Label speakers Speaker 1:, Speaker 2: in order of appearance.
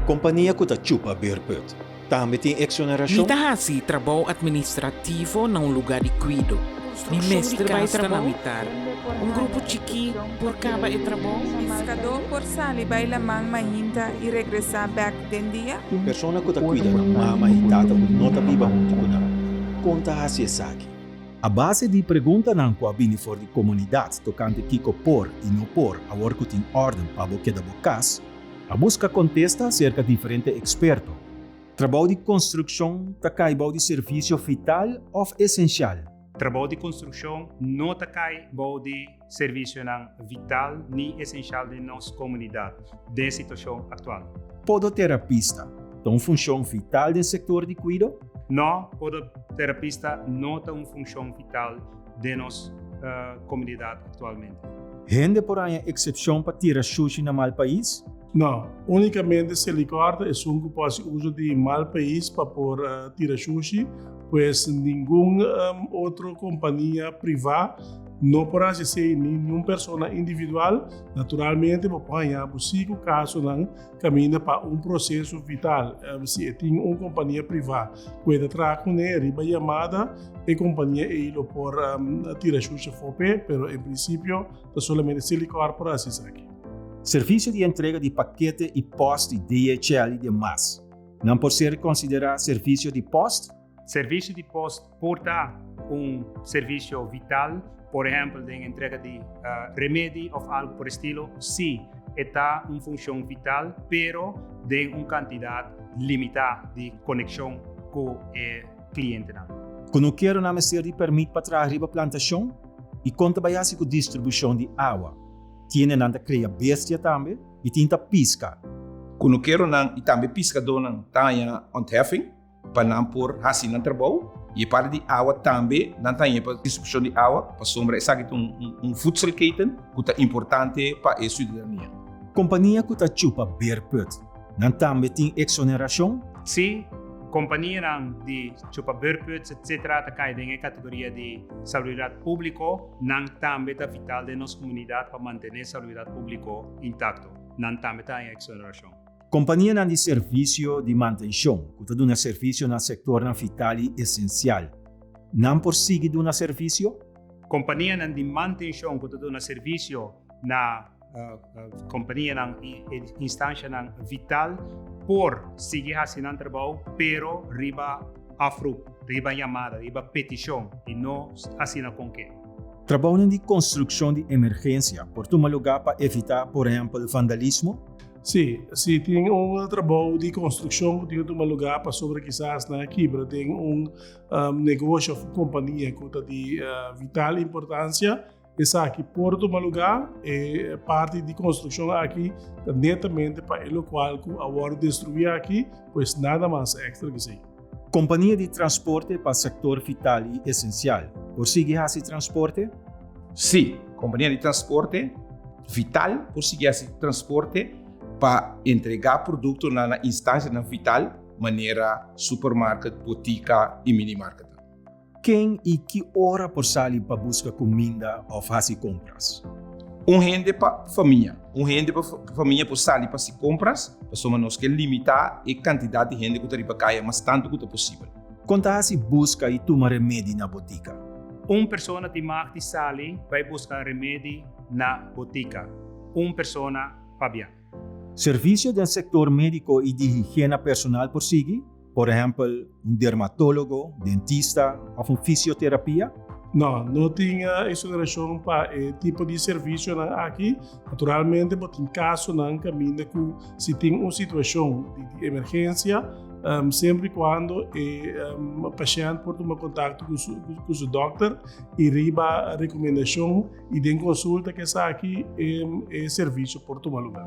Speaker 1: Kompania ku ta chupa beerput tambe tin eksonerashon? Mi ta hasi trabou
Speaker 2: atministrativo na un lugá di kuido. Mi mester bai trabou un grupo chikí por kaba e trabou? Piskadó por
Speaker 3: sali bai laman mainta i regresá bèk den dia? Persona ku ta kuida
Speaker 1: nan mama i tata ku no ta biba huntu ku nan, kon ta hasi esaki? A base di preguntanan ku a bini for di komunidat tokante kiko por i no por awor ku tin òrden pa bo keda bo kas, A buska kontesta aserka diferente eksperto. Trabou di konstrukshon ta kai bou di servisio vital òf esensial. Trabou di
Speaker 4: konstrukshon no ta kai bou di servisionan vital ni esensial den nos komunidat den situashon aktual. Podoterapista
Speaker 1: ta un funshon vital den sektor di kuido? No,
Speaker 4: podoterapista no ta un funshon vital den nos komunidat aktualmente. Hende por haña
Speaker 1: eksepshon pa tira shushi na mal pais? No,
Speaker 5: únikamente si e likòrta esun ku por hasi uso di mal pais pa por tira shushi, pues ningun otro kompania privá no por hasi esei ni niun persona individual. Naturalmente bo por haña bo si ku kasonan kaminda pa un proseso vital, si e tin un kompania privá ku e ta traha kuné riba yamada, e kompania ei lo por tira shushi afó p'e, pero en prinsipio ta solamente Silicor por hasi esaki. Servisio di
Speaker 1: entrega di pakete i pòst di DHL i demas nan por ser konsiderá servisio di pòst? Servisio di pos
Speaker 4: por ta un servisio vital, por ehèmpel den entrega di remedi òf algu por e stilo. Sí, e ta un funshon vital, pero den un kantidat limitá di konekshon ku e klientenan. Konokeronan
Speaker 1: mester di pèrmit pa traha riba plantashon? I kon ta bai hasi ku distribushon di awa? Tiene nan ta kria bestia tambe i tin ta piska? Konokeronan
Speaker 6: i tambe piskadónan ta haña onthèfing? Pa nan por hasi nan trabou y e parti di awa tambe nan ta hañ'é pa distribucion di awa, pasobra esaki ta un voedselketen cu ta importante pa e ciudadania. Compania cu ta
Speaker 1: chupa beurtput, nan tambe tin exoneracion? Sí,
Speaker 4: companianan di chupa beurtputs etc. Ta cay den e categoria di saluridad publico, nan tambe ta vital den nos comunidad pa mantené saluridad publico intacto, nan tambe ta haña exoneracion. Kompanianan di
Speaker 1: servisio di mantenshon ku ta duna servisio na sektornan vital i esensial, nan por sigui duna servisio? Kompanianan
Speaker 4: di mantenshon ku ta duna servisio na kompanianan i instanshanan vital por sigui hasi nan trabou, pero riba oproep, riba yamada, riba petishon i no asina kon ke. Trabounan di
Speaker 1: konstrukshon di emergensia por tuma lugá pa evitá, por ehèmpel, vandalismo? Sí, si
Speaker 5: tin un trabou di konstrukshon ku tin ku tuma lugá pasobra kisas nan a kibra den un negoshi òf un kompania ku ta di vital importansia, esaki por tuma lugá. E parti di konstrukshon aki ta netamente pa e lokual ku a wòrdu destruí aki, pues nada mas èkstra ki esei. Kompania di
Speaker 1: transporte pa sektor vital i esensial por sigui hasi transporte? Sí,
Speaker 6: kompania di transporte vital por sigui hasi transporte pa entregá produktonan na instansianan vital, manera supermarket, botika i minimarketnan. Ken
Speaker 1: i ki ora por sali pa buska kuminda òf hasi kompras? Un hende
Speaker 6: pa famia. Un hende pa famia por sali pa hasi kompras pasobra nos ke limitá e kantidat di hende ku ta riba kaya mas tantu ku ta posibel. Kon ta hasi
Speaker 1: buska i tuma remedi na botika? Un persona
Speaker 4: tin mag di sali bai buska remedi na botika un persona pabia. Servisio
Speaker 1: den sektor médiko i di higiena personal por sigui? Por ehempel, un dermatólogo, dentista òf un fisioterapia? No, no
Speaker 5: tin exonerashon pa e tipo di servisionan aki. Naturalmente bo tin kasonan kaminda ku si tin un situashon di emergensia, semper i kuando e pashènt por tuma kontakto ku su dòkter i riba rekomendashon y den consulta cu esaki e servicio por tuma lugar.